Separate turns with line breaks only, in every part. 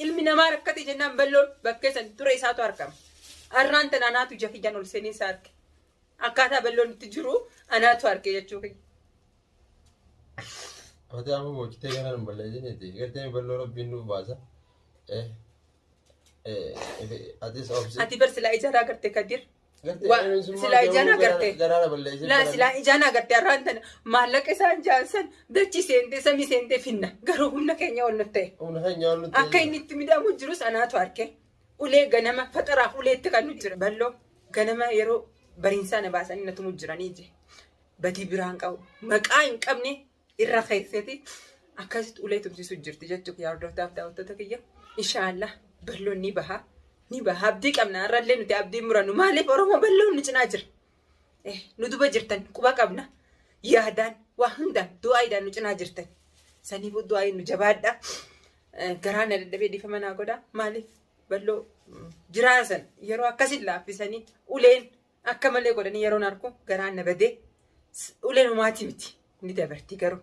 Ilmi namaa rakkate jennaan balloon bakkee san ture isaatu argama. Arraan tan anaatu ija kiyyaan ol seenee isaa arge. Akkaataa balloon itti jiru anaatu arge jechuu kiyya.
Ati amma boochitee kana hin balleessiniiti. Gartee balloo rabbiin nuuf baasa. Eh, eh, eh, Atis obsi. Ati bar silaa ijaraa garte kadir Silaa ijaan agartee. Laa silaa ijaan agartee har'aan tana maallaqa isaan jaansan dachi seentee samii seentee finna garuu humna keenya ol nuuf ta'e. Akka inni itti midhaamu jirus anaatu arke. Ulee ganama faxaraaf ulee itti kan nuti jira. Balloo ganama yeroo bariinsaa na baasanii na tumu jiranii je. Badii biraan qabu. Maqaa hin qabne irra keesseeti akkasitti ulee tumsiisu jirti jechuudha yaa hordoftaaf daawwattoota kiyya inshaallah balloon ni baha ni baha abdii qabna irrallee nuti abdii murannu maaliif oromoo balloon nu cinaa jira Eh, nu duba jirtan quba qabna yaadaan waa hundaan du'aayiidhaan nu cinaa jirtan saniif du'aayiin nu jabaadha Eh, garaa na dadhabee dhiifama naa godha maaliif balloo mm, jiraa san yeroo akkasin laaffisanii uleen Akka malee godhanii yeroon arku garaan na badee uleen homaatii miti ni dabartii garuu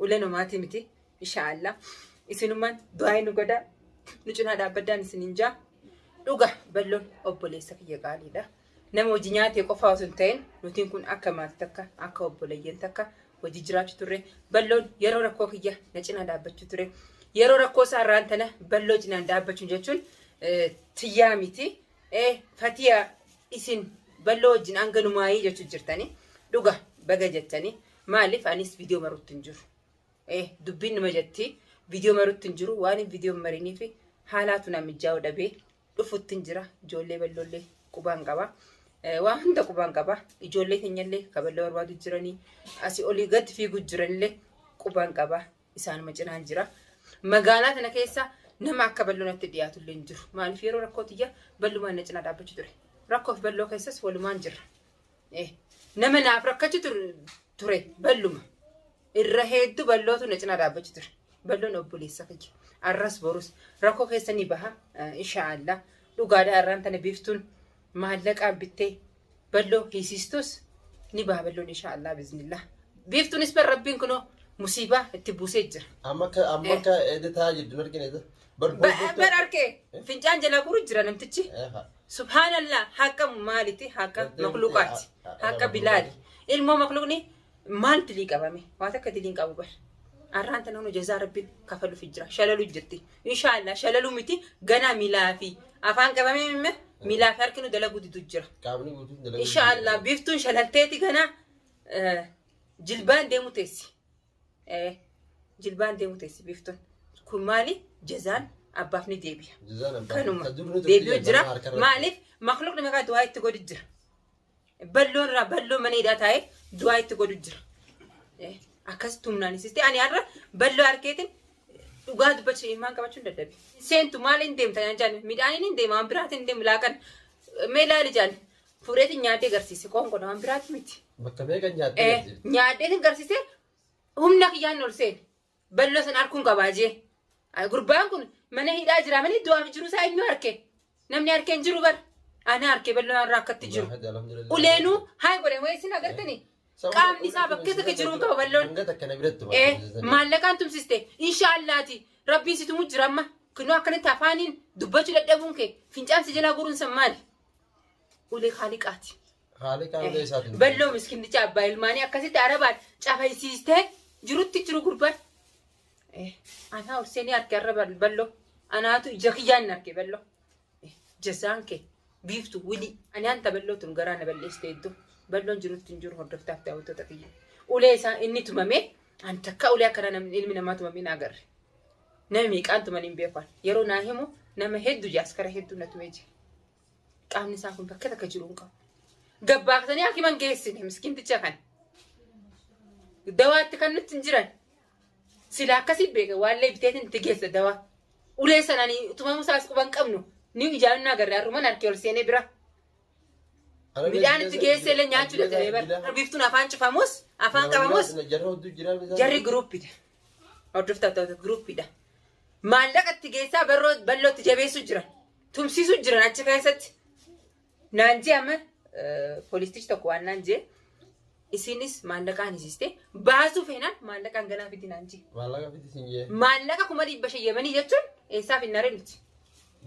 uleen homaatii miti inshaallah isinummaan du'aa nu godhaa nu cinaa dhaabbaddaan isin hin jaa dhuga balloon obboleessa kiyya qaaliidha nama hojii nyaatee qofaa osoo hin ta'in nutiin kun akka maatii takka akka obboleeyyan takka hojii jiraachuu turre balloon yeroo rakkoo kiyya na cinaa dhaabbachuu ture yeroo rakkoo isaa irraan tana balloo cinaan dhaabbachuun jechuun tiyyaa miti Ee fatiya isin ballo wajjin hanga numaayii jechu jirtani dhuga baga jettani maalif anis video marutti hin jiru ee dubbiin numa jetti video marutti hin jiru waan video marinii fi haalaatu na mijaa'u dhabee dhufutti hin jira ijoollee balloollee qubaan qaba Eh, waan hunda qubaan qaba ijoollee keenyallee kaballoo barbaadu jiranii asii olii gad fiigu jiranillee qubaan qaba isaanuma cinaan jira. Magaalaa tana keessa nama akka balloo natti dhiyaatu illee hin jiru. Maaliif yeroo rakkoo tiyya ballumaan na cinaa dhaabbachu ture. Rakkoof balloo keessas walumaan jirra. Eh, Nama naaf rakkachu tur- ture balluma. Irra hedduu ballootu na cinaa dhaabbachu ture. Balloon obboleessa kiyya. Arras borus rakkoo keessa ni baha. Eh, Inshaallah. Dhugaadhaa irraan tana biiftuun maallaqaan bittee balloo hiisiistus ni baha balloon inshaa Allah biznillah. Biiftuunis bar rabbiin kunoo musiibaa itti buusee jira. Amma akka amma Eh. akka editaa jirtu nargin edit. Bar Ba- bar bar
arkee fincaan jalaa guru jira namtichi. Subhaanallah haqa maaliti haqa Daddeebitee, makluuqaati ha- ha- haqa haqa bilaali ilmoo makluuqni Maal dilii qabame? Waa takka dilii hin qabu bar. Arraan tana nu jazaa rabbiin kafaluuf jira. Shalalu jirti. Inshaallah shalalu miti ganaa milaa fi afaan qabamee mimme milaa fi harki nu dalaguu didu jira. Qaamni guutuun dalaguu Inshaallah biiftuun shalalteeti ganaa eh, jilbaan deemu teessi. Eh, Jilbaan deemu teessi biiftuun. Kun maali? Jazaan abbaaf ni deebi'a. Jazaan abbaa. Kanuma Kan dur ni turte deebi'u jazaan jira. harkarratti. Maaliif? Makluuqni meeqaa du'aa itti godhi jira. Balloo irraa balloo mana hidhaa taa'ee du'aa itti godhu jira. Akkas tumnaan sisti ani har'a balloo harkeetiin dhugaa dubbachuu ilmaan qabachuun dadhabe. Seentu maaliin deemta naan jaan midhaaniin hin deema waan biraatiin hin deemu laaqan mee laali jaan fuudheetiin nyaatee garsiise qoonqoon waan biraati miti. Bakka meeqa nyaatee
garsiise? Nyaadheetiin garsiise
humna kiyyaan ol seene. Balloo san arkuun qabaa jee. Ay, Gurbaan kun mana hidhaa jira malee du'aaf jiru isaa eenyu arke? Namni arke hin jiru bar. Ana arke balloon irraa akkatti jiru. Uleenuu haay godhan wayii isin agartanii? Qaamni isaa bakkee takka jiru hin qaba balloon. Hanga takka na biratti Eh, barbaachisa. maallaqaan tumsiste inshaallaati rabbiin si tumu jira amma kunoo akkanatti afaaniin dubbachuu dadhabuun kee fincaan si jalaa guuruun san maali ulee kaaliqaati Haalli qaamota isaatiin. Balloo miskinnicha abbaa ilmaanii akkasitti arabaan cafaysiistee jirutti jiru gurbaan. Eh, Anaa horsee ni arge arra bal- balloo. Anaatu ija kiyyaan arge balloo. Eh, Jasaan kee biiftu wili. Ani anta balloo tun garaa na balleessite iddoo. Balloon jirutti hin jiru hordoftaaf daawwattoota kiyya. Ulee isaa inni tumamee an takka ulee akkana namni ilmi namaa tumamee na agarre. Nama meeqaan tuman hin beekan. Yeroo naa himu nama hedduu jaaskara hedduu na tumee jira. Qaamni isaa kun bakka takka jiru hin qabu. Gabbaaksanii hakiman geessine miskiinticha kan. Dawaatti kan nutti hin jiran. Sila akkasii beeka waallee biteetiin itti geessa dawaa. Ulee sananii tumamuu isaas quba hin qabnu. Ni ijaan na agarre harruman harkee ol seenee bira. Midhaan itti geessee illee nyaachuu dadhabee bara. Biiftuun afaan cufamus afaan qabamus Jarri hedduu jira. jarri giruuppidha. Hordoftoota giruuppidha. Maallaqa itti geessaa barroo bal'ootti jabeessuu jiran. tumsiisu jiran achi keessatti naan jee amma poolistichi tokko waan naan jee isiinis maallaqaan hisiiste baasuu feenaan maallaqaan ganaa fiti naan jee
Maallaqa
fiti sin jee.
maallaqa
kuma dhibba shan yemanii jechuun eessaaf hin naree miti.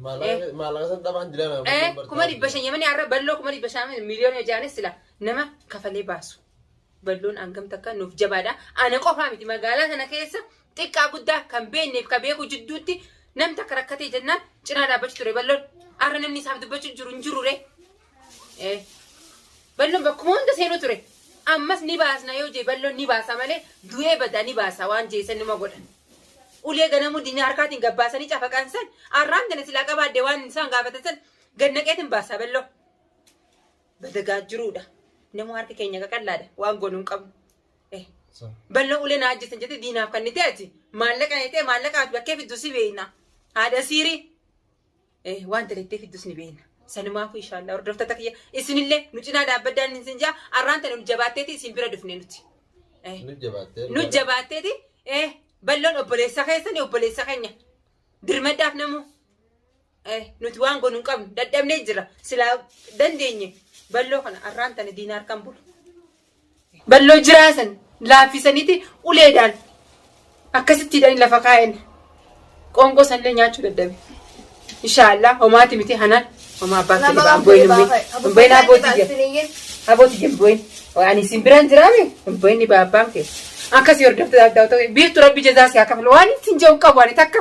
Maallaqa
maallaqa san dhabaan dilaa naa. Eh, kuma dhibba shan
yemanii har'a balloo kuma dhibba shan miliyoona hojaanis sila nama kafalee baasu. Balloon hangam takka nuuf jabaadha. Ana qofaa miti magaalaa sana keessa xiqqaa guddaa kan beekneef kan beeku jidduutti nam takka rakkatee jennaan cinaa dhaabbachu ture balloon. Har'a namni isaaf dubbachuu jiru hin jirure. Balloon bakkuma hunda seenuu ture. Ammas ni baasna yoo jee balloon ni baasa malee du'ee badaa ni baasa waan jeesan numa godhan. Ulee ganamuu diinaa harkaatiin gabbaasanii cafaqan san arraan tana silaa qabaadde waan isaan gaafatan san gannaqeetiin baasa balloo. badagaa jiruudha. Nama harka keenya qaqallaadha. Waan goonu hin qabnu. Eh, Bal'oo ulee naa ajjeesan jettee diinaaf kannitee ati maallaqa jettee maallaqa ati bakkee fiddu si beekna. Haadha siirii. Eh, waan dalattee fiddus ni beekna. Sanumaafuu inshaallah hordoftoota kiyya isinillee nu cinaa dhaabbaddaan isin jaa arraan tana nu jabaatteeti isin bira dhufne nuti. Eh, Nu jabaattee. nu jabaatteeti eh, balloon obboleessa keessani obboleessa keenya dirmaddaaf namuu. Eh, nuti waan goonu hin qabnu dadhabnee jira silaa dandeenye balloo kana arraan tana diina harkaan bulu balloo jiraasan laaffisaniiti uleedhaan akkasitti hidhanii lafa kaa'en qoonqoo sanillee nyaachuu dadhabe inshaallah homaati miti hanaan homaa abbaa kee dhibaa hin bu'in hin bu'in abbootii jira abbootii jira hin bu'in ani isin biraan jiraame hin bu'in dhibaa abbaan kee akkasii hordoftoota adda ta'e biiftu rabbi jazaa si haa kafalu waan ittiin jiru hin qabu ani takka.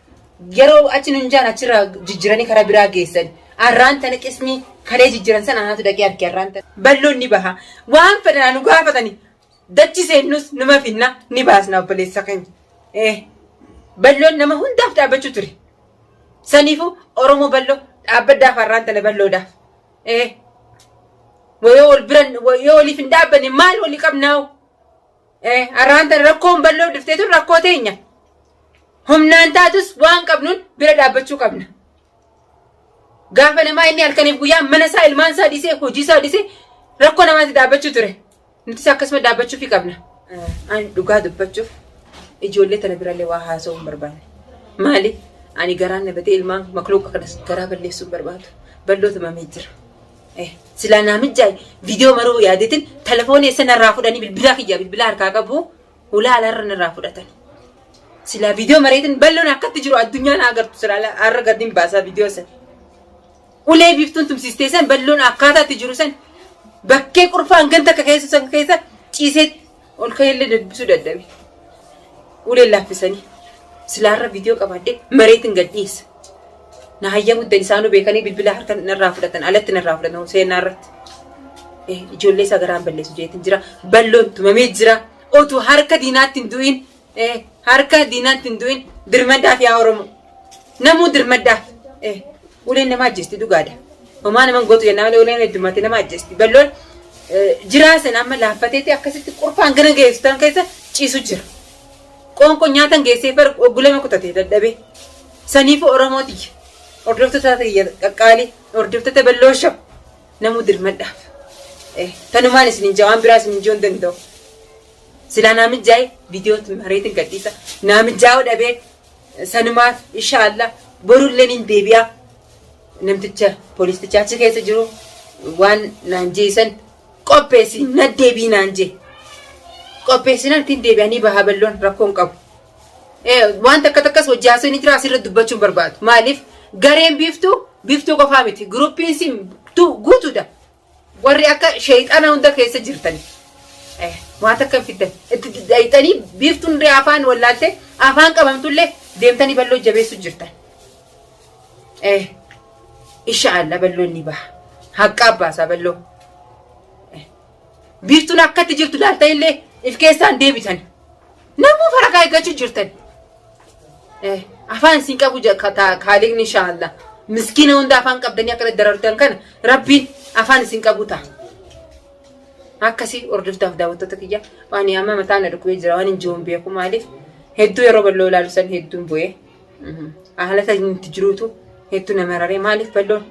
Yeroo achi nun jaan achirraa jijjiranii karaa biraa geessan. Arraan tana qismii kalee jijjiran sana anaatu dhaqee arge arraan tana. Balloon ni baha. Waan fedhanaa nu gaafatani. Dachi seennus numa finna ni baasna obboleessa keenya. Eh, Balloon nama hundaaf dhaabbachuu ture. Saniifuu Oromoo balloo dhaabbaddaaf arraan tana balloodhaaf. Eh, yoo wal biran yoo waliif hin dhaabbanne maal walii qabnaawu? Arraan tana rakkoon bal'oo dhuftee tun rakkoo teenya. Humnaan taatus waan qabnuun bira dhaabbachuu qabna. Gaafa namaa inni halkaniif guyyaa mana isaa ilmaan isaa dhiisee hojii isaa dhiisee rakkoo namaatti dhaabbachuu ture. Nutis akkasuma dhaabbachuufii qabna. Ani dhugaa dubbachuuf ijoollee tana birallee waa haasa'uu hin barbaanne. Maaliif? Ani garaan na batee ilmaan makluuqa kanas garaa balleessuu hin barbaadu. Bal'oo tumamee jira. Eh, silaa naamijjaay viidiyoo maruu yaadetin telefoonii eessa narraa fudhanii bilbilaa kiyya bilbilaa harkaa qabu hulaa alaarra narraa fudhatan. Silaa viidiyoo mareetin balloon akkatti jiru addunyaa na agartu silaa ala- har'a gadin baasaa viidiyoo san. Ulee biiftuun tumsiistee san balloon akkaataa itti jiru san bakkee qurfaan ganta akka keessa san keessa ciisee Ol ka'eellee debbisuu dadhabe. Uleen laaffisanii silaarra viidiyoo qabaadhee mareetiin gad dhiyeessa. Na hayyamu iddan isaanuu beekanii bilbila harka narraa fudhatan alatti narraa fudhatan seenaa irratti. Ijoollee isaa garaan balleessu jeetiin jira. Balloon tumamee jira. Otuu harka diinaatti hin du'in Eh, harka diinaatti hin du'in dirmaddaaf yaa Oromoo. Namuu dirmaddaaf. Eh, uleen nama ajjeesti dhugaadha. Homaa naman gootu jennaa malee uleen heddummatti nama ajjeesti. Balloon eh, jiraa sana amma laaffateetti akkasitti qurfaan gara geessitan keessa ciisu jira. Qoonqoo nyaatan geessee bar oggulama kutatee dadhabee. Saniifu Oromootiyya. Hordoftoota tiyya qaqqaalii. Hordoftoota balloo shab. Namuu dirmaddaaf. Eh, tanumaan isin hin jawaan biraa isin hin joon danda'u. Silaa naa mijjaa'e viidiyoo mareetiin gadhiisa. Naa mijjaa'uu dhabee sanumaaf insha Allah borullee nin deebi'a. Namticha poolisticha achi keessa jiru waan naan jeesan qopheessi na deebii naan jee. Qopheessinaan ittiin deebi'anii bahaa balloon rakkoo hin qabu. Wanta akka takkas hojii haasoo ni jira asirra dubbachuun barbaadu. Maaliif gareen biiftuu biiftuu qofaa miti. Guruppiin siin guutuudha. Warri akka sheeyxana hunda keessa jirtani waa takka hin fiddan itti diddaayxanii biiftuun illee afaan wallaaltee afaan qabamtu illee deemtanii balloo jabeessu jirtan. Isha alla balloon ni baha haqqaa baasaa balloo. Biiftuun akkatti jirtu laaltan illee if keessaan deebitan. Namuu farakaa eeggachuu jirtan. Eh, afaan isin qabu ja- ka- ta- kaaliqni inshaallah. Miskiina hunda afaan qabdanii akka darartan kana rabbiin afaan isin qabu ta'a. Akkasii hordoftaaf daawwattoota kiyya waan yaama mataa na dhukkubee jira waan hin jiruun beeku maaliif hedduu yeroo bal'oo ilaalu san hedduun bu'ee haala tajaajilu itti jiruutu hedduu nama raree maaliif bal'oon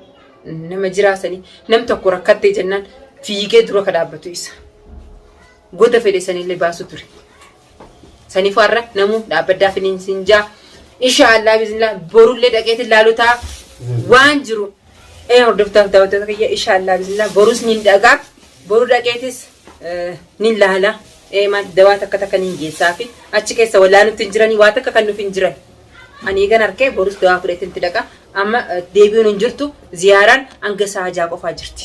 nama jiraasanii nam tokko rakkattee jennaan fiigee dura ka dhaabbatu isa. Goda fedhe sanille baasu ture. Sanifu har'a namu dhaabbaddaa finiin sin jaa. Insha Allah biznillah borullee dhaqeetin laalu ta'a. Waan jiru ee hordoftaaf daawwattoota kiyya insha Allah biznillah borus nin dhagaa. Boru dhaqeetis eh, nin laala. Ee maal dawaa takka takka nin geessaa fi achi keessa walaalutti hin jiranii waa takka kan nuuf hin jiran. Ani eegan harkee borus dawaa fudhatetti dhaqa. Amma eh, deebi'uun hin jirtu ziyaaraan hanga sa'a ja'a qofaa jirti.